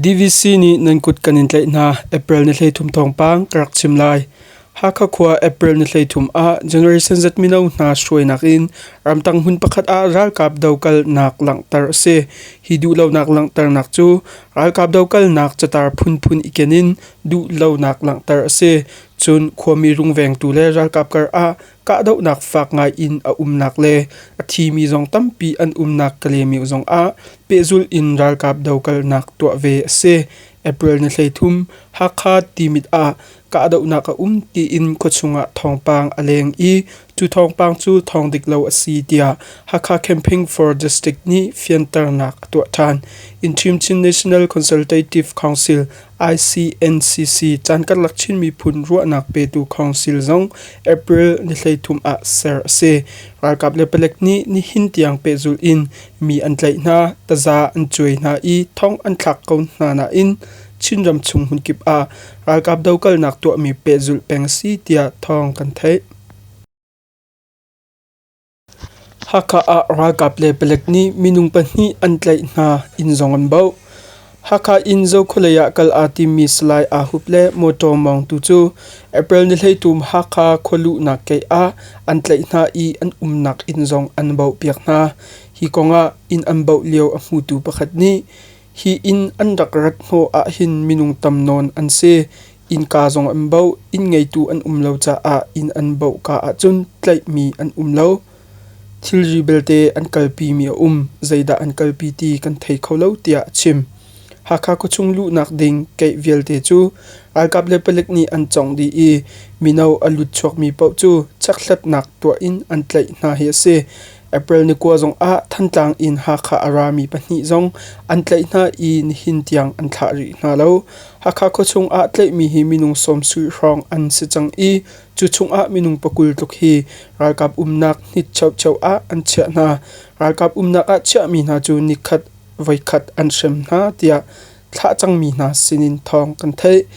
DVC nih nan kut kan in tlaih hna April ni hleithum thawngpang ka rak chim lai. Hakha khua April ni hleithum ah generation Z mino hna hruainak in ramtang hun pakhat ah ralkap dokal nak langhter a si. Hi duhlonak langhternak cu ralkap dokal nak catar phunphun iken in duhlonak langhter a si. Cun khuami rungvengtu le ralkap karah kahdohnak fak ngai in a umnak le a thimi zong tampi an umnak Kalymyo zongah pehzulh in ralkap dokalnak tuah ve a si. April ni hleithum Hakha Timit ah kahdohnak a um tiin khuachung ah thawngpang a leng i Cu thawngpang cu thawng dik lo a si tiah Hakha Campaign for District nih fianternak a tuah ṭhan. Inchim Chin National Consultative Council ICNCC caan karlak Chin miphun ruahnak petu council zong April ni thleithum ah ser a si. Ralkap le palek nih nihin tiang pehzulh in mi an tlaih hna, taza an cuai hna i thong an thlak ko hna nain Chinram chung hmunkip ah ralkap dokalnak tuahmi pehzulh peng a si tiah thawng kan theih. Hakha ah ralkap le palek nih minung pahnih an tlaih hna, inn zong an bauh. Hakha in Zokhualei ah kal aa timmi Salai Aa Hup le mawṭaw Mawng tu cu April ni hleithum Hakha khualuhnak keih ah an tlaih hna i an umnak inn zong an bauhpiak hna. Hi kongah inn an bauh lio a hmutu pakhat nih Hi inn an rak rat hnawh ahhin minung tam nawn an si. Innka zong an boh. Inn ngeitu an um lo caah inn an boh kaa ahcun tlaihmi an um lo. Thilri belte an kalpimi a um. Zeidah an kalpi ti kan thei kho lo tiah a chim. Hakha khuachung luhnak ding keih vialte cu ralkap le palik nih an cawng dih i mino a lut chuakmi paoh cu chekthlatnak tuah in an tlaih hna hi a si. April ni kua zongah Thantlang in Hakha a rami pahnih zong an tlaih hna i nihin tiang an thlah rih hna lo. Hakha khuachung ah tlaihmi hi minung sawmsui hrawng an si cang i cu chungah minung pakul tluk hi ralkap umnak hnit cheucheu ah an chiah hna. Ralkap umnak ah chiahmi hna cu nikhat voikhat an hrem hna tiah thlah cangmi hna sinin thawng kan theih.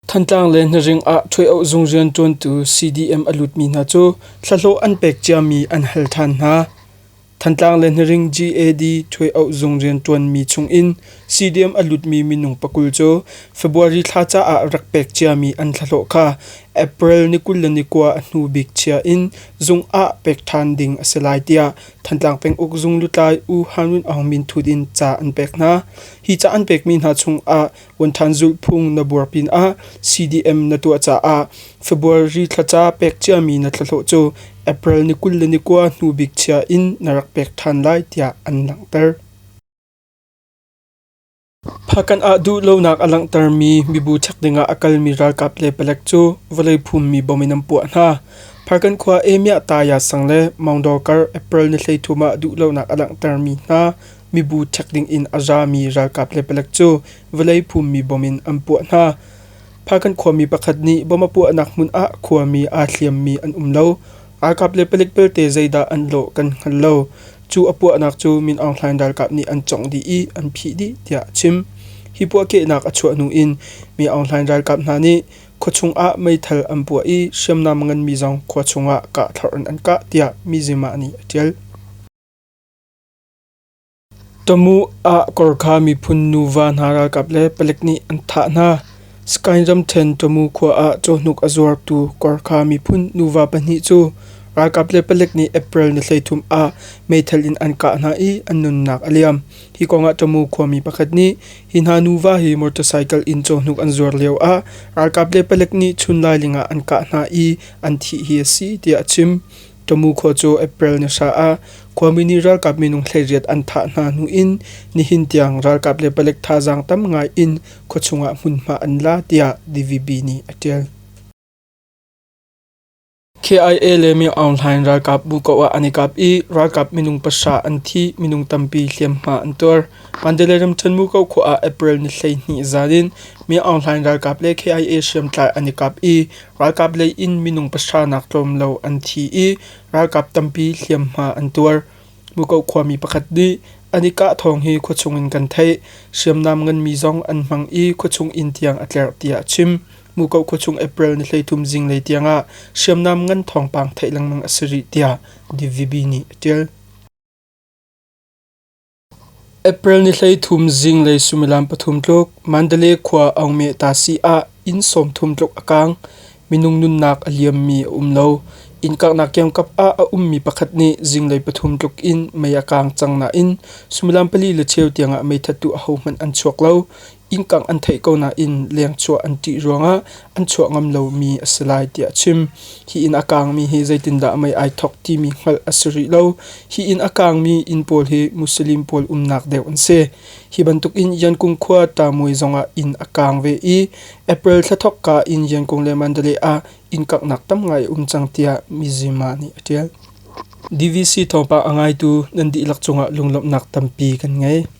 Thantlang le Hnaring ah ṭhuoiawh zung rianṭuantu CDM a lutmi hna cu thlahlawh an pek ciami an hal ṭhan hna. Thantlang le Hnaring GAD ṭhuoiawh zung rianṭuanmi chungin CDM a lutmi minung pakul cu February thla caah rak pek ciami an thlahlawh kha April ni kul le ni kua a hnu bik chia in zung ah pek ṭhan ding a si lai tiah Thantlang penguk zung lutlai U Han Win Aung Min ṭhut in ca an pek hna. Hi ca an pekmi hna chungah Punthan zulhphung na buar pinah CDM na tuah caah February thlaca pek ciami na thlahlawh cu April ni kul le ni kua hnu bik chia in na rak pek ṭhan lai tiah an langhter. Phakan ah duh lonak a langhtermi mibu chek dingah a kalmi ralkap le palek cu vawlei phummi bom in an puah hna. Phakan khua Emiah Taya sang le Mangdawkar April ni hleithum ah duh lonak a langhtermi hna mibu ṭhek dingin a zami ralkap le palek cu vawlei phummi bom in an puah hna. Phakan khuami pakhat nih bom a puahnak hmun ah khuami aa hliammi an um lo. Ralkap le palik belte zeidah an lawh kan hngal lo. Cu a puahnak cu Min Aung Hlaing ralkap nih an congh dih i an phih dih tiah a chim. Hi puahkehnak a chuah hnu in Mi Aung Hlaing ralkap hna nih khuachung ah meithal an puah i hriamnam nganmi zong khua chungah kah thlorh in an kah tiah mi zima nih a ṭial. Tamuh ah Korkha miphun nuva hna ralkap le palek nih an thah hna. Sakaing ramṭhen Tamuh khua ah cawhnuk a zuartu Korkha miphun nuva pahnih cu ralkap le palek nih April ni hleithum ah meithal in an kah hna i an nunnak a liam. Hi kongah Tamuh khuami pakhat nih hi hna nuva hi motorcycle in cawhnuk an zuar lio ah ralkap le palek nih chunlailing ah an kah hna i an thih hi a si tiah a chim. Tamu khua cu April ni hra ah khuami nih ralkap minung thleiriat an thah hna hnu in nihin tiang ralkap le palek thazaang tam ngai in khuachung ah hmunhma an la tiah DVB nih a ṭial. KIA le Myo Aung Hlaing ralkap bu ko ah an i kap i ralkap minung pasa an thi minung tampi hliamhma an tuar. Mandalay ram Chanmu ko khua ah April ni hlei hnih zalin Myo Aung Hlaing ralkap le KIA hriamtlai an i kap i Ralkap lei in minung pahra nak tlawmlo an thi i ralkap tampi hliamhma an tuar. Mukoh khuami pakhat nih an i kah thawng hi khuachung in kan theih. Hriamnam nganmi zong an hmang i khuachung inn tiang a tlerh tiah a chim. Mukoh khuachung April ni hleithum zinglei tiangah hriamnam ngan thawngpang theih lengmang a si rih tiah DVB nih a ṭial. April ni hleithum zinglei suimilam pathum tluk Mandalay khua Aungmeh Tasi ah inn sawmthum tluk a kaang. Minung nunnak a liammi a um lo. Inn kanghnak kiamkap ah a ummi pakhat nih zinglei pathum tluk in mei a kaang cang nain suimilam pali le cheu tiangah meithattu ahohmanh an chuak lo. innkang an theih ko nain lengchuah an ṭih ruangah an chuah ngam lomi a si lai tiah a chim. Hi inn a kaangmi hi zeitindah mei ai thawk timi hngalh a si rih lo. Hi inn a kaangmi inn pawl hi Muslim pawl umnak deuh an si. Hi bantukin Yankung khua Tamuai zongah inn a kaang ve i April thla thawkka in Yankung le Mandalay ah inn kanghnak tam ngai a um cang tiah Mizima nih a ṭial. DVC thawngpang a ngaitu nan dihlak cungah lunglawmhnak tampi kan ngei.